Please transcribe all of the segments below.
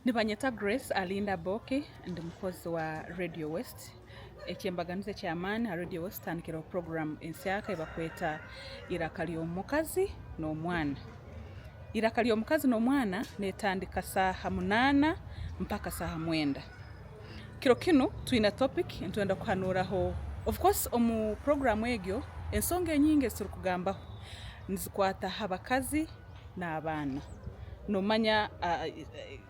Nibanyeta Grace Alinda Boke ndi mukozi wa Radio West. Ekyembaganiza ekyamaani ha Radio West tutandikireho puroguramu ensyaka eyibakweta Iraka ry'omukazi n'omwana. Iraka ry'omukazi n'omwana netandika saha munana mpaka saha mwenda. Kiro kinu twine topic nitwenda kuhanuraho of course omu puroguramu egyo ensonga enyingi eziturikugambaho nizikwata ha bakazi n'abaana nomanya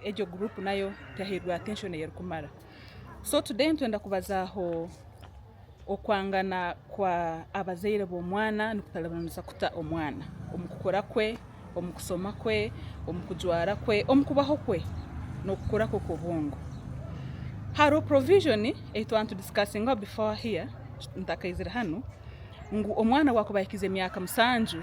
egyo group nayo tehairwe attention eyerikumara so today nitwenda kubazaho okwangana kwa abazaire b'omwana nikutaribanisa kuta omwana omukukura kwe, omukusoma kwe, omukujwara kwe, omukubaho kwe nokukura kwe kwobwongo. Hariho provision eyitwaba nitudiscussingwa before here ntakaizire hanu ngu omwana wakuba ahikize emyaka musanju.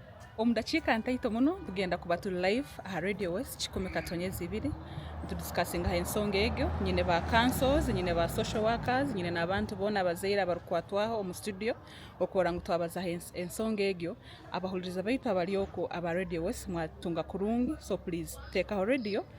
Omu dakiika ntaito muno tugenda kuba turi live aha Radio West kikumi katonyezi ibiri nitudisikasinga aha ensonga egyo. Nyine ba councils, nyine ba social workers, nyine n'abantu boona abazaire abarikwatwaho omu studio okubaura ngu twabaza aha ensonga egyo. Abahuririza baitu abari okwo aba Radio West mwatunga kurungi so please teekaho radio